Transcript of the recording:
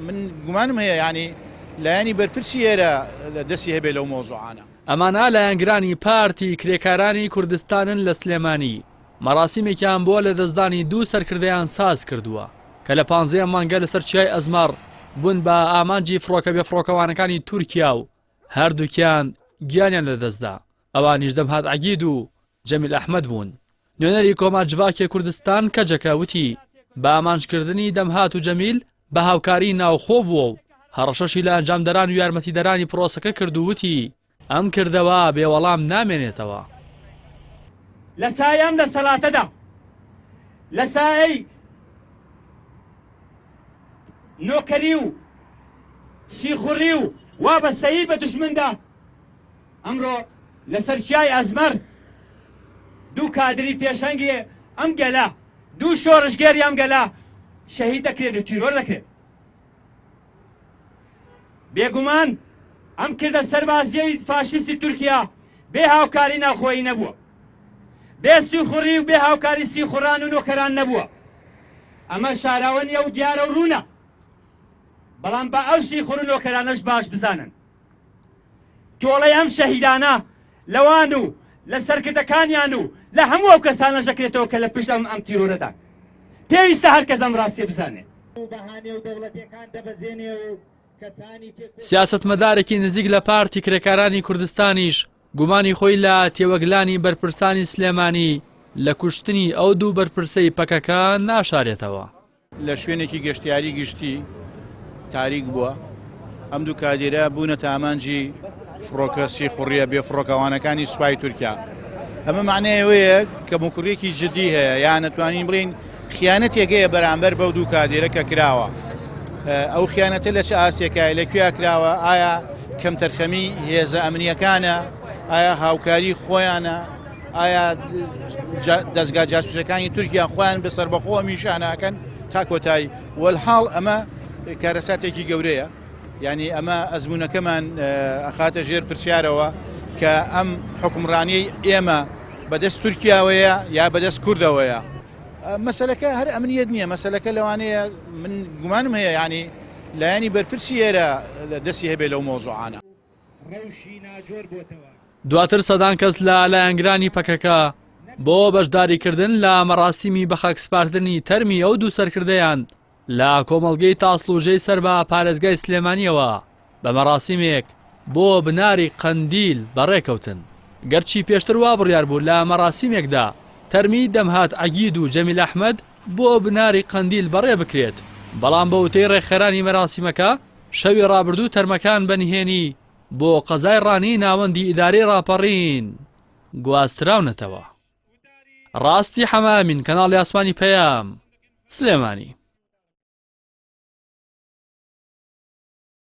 من گومانم هەیە یانی لایەنی بەرپرسی ئێرە دەستی هەبێ لەو مەوزوعانە. ئەمانە لایەنگرانی پارتی کرێکارانی کوردستانن لە سلێمانی، مەراسیمێکیان بۆ لەدەستدانی دوو سەرکردەیان ساز کردووە، کە لە پانزەیەم مانگە لەسەر چیای ئەزمەڕ بوون بە ئامانجی فڕۆکە بێفڕۆکەوانەکانی تورکیا و هەردووکیان گیانیان لەدەستدا، ئەوانیش دەمهات عەگید و، جەمیل ئەحمەد بوون، نوێنەری کۆما جڤاکێ کوردستان کەجەکە وتی، بە ئامانجکردنی دەمهات و جەمیل بە هاوکاریی ناوخۆ بووە و هەڕەشەشی لە ئەنجامدەران و یارمەتیدەرانی پرۆسەکە کرد و وتی، ئەم کردەوە بێ وەڵام نامێنێتەوە. لە سای ئەم دەسەڵاتەدا لە سایەی نۆکەری و سیخوڕی و وابەستەیی بە دوژمندا، ئەمڕۆ لەسەر چیای ئەزمەڕ دوو کادری پێشەنگی ئەم گەلە، دوو شۆڕشگێری ئەم گەلە شەهید دەکرێن و تیرۆر دەکرێن. بێگومان ئەم کردە سەربازیەی فاشیستی تورکیا بێ هاوکاری ناوخۆیی نەبووە، بێ سیخوڕی و بێ هاوکاری سیخوڕان و نۆکەران نەبووە. ئەمە شاراوە نییە و دیارە و ڕوونە، بەڵام با ئەو سیخوڕ و نۆکەرانەش باش بزانن، تۆڵەی ئەم شەهیدانە لەوان و لە سەرکردەکانیان و لە هەموو ئەو کەسانە ژەکرێتەوە کە لە پشت ئەم ئەم تیرۆرەدا پێویستە هەر کەس ئەم ڕاستیە بزانێت. سیاسەتمەدارێکی نزیک لە پارتی کرێکارانی کوردستانیش گومانی خۆی لە تێوەگلانی بەرپرسانی سلێمانی لە کوشتنی ئەو دوو بەرپرسەی پەکەکە ناشارێتەوە. لە شوێنێکی گەشتیاری گشتی تاریک بووە، ئەم دوو کادیرە بوونەتە ئامانجی فڕۆکە سیخوڕییە بێفڕۆکەوانەکانی سوپای تورکیا. ئەمە مەعنای ئەوەیە کە موکوڕیەکی جددی هەیە، یان دەتوانین بڵێین خیانەتێک هەیە بەرامبەر بەو دوو کادیرە کە کراوە. ئەو خیانەتە لە چ ئاستێکایە، لە کوێیا کراوە، ئایا کەمتەرخەمیی هێزە ئەمنییەکانە، ئایا هاوکاریی خۆیانە، ئایا دەزگا جاسوسەکانی تورکیا خۆیان بە سربەخۆوە میشانەکەن تا کۆتایی وەلحاڵ ئەمە کارەساتێکی گەورەیە یعنی ئەمە ئەزمونونەکەمان ئەخاتە ژێر پرسیارەوە کە ئەم حکمڕانیی ئێمە بەدەست تورکیاوەیە یا بەدەست کوردەوەیە مەسلەکە هەر ئەمنیت نییە مەسلەکە لەوانەیە من گومانم هەیە ینی لایەنی بەرپرسی ئێرە دەستی هەبێ لەو مۆزوعانە. ڕەوشی ناجۆر بۆتەوە. دواتر سەدان کەس لە لایەنگرانی پەکەکە بۆ بەشداریکردن لە مەراسیمی بەخاکسپاردنی تەرمی ئەو دوو سەرکردەیان لە کۆمەڵگەی تاسڵوژەی سەر بە پارێزگای سلێمانیەوە بە مەراسیمێک بۆ بناری قەندیل بەڕێکەوتن. گەرچی پێشتر وا بڕیار بوو لە مەراسیمێکدا تەرمی دەمهات عەگید و جەمیل ئەحمەد بۆ بناری قەندیل بەڕێ بکرێت، بەڵام بە وتەی ڕێکخەرانی مەراسیمەکە، شەوی ڕابردوو تەرمەکان بە نهێنی بۆ قەزای ڕانی ناوەندی ئیدارەی ڕاپەڕین گواستراونەتەوە. ڕاستی حەمە ئەمین کەناڵی ئاسمانی پەیام، سلێمانی.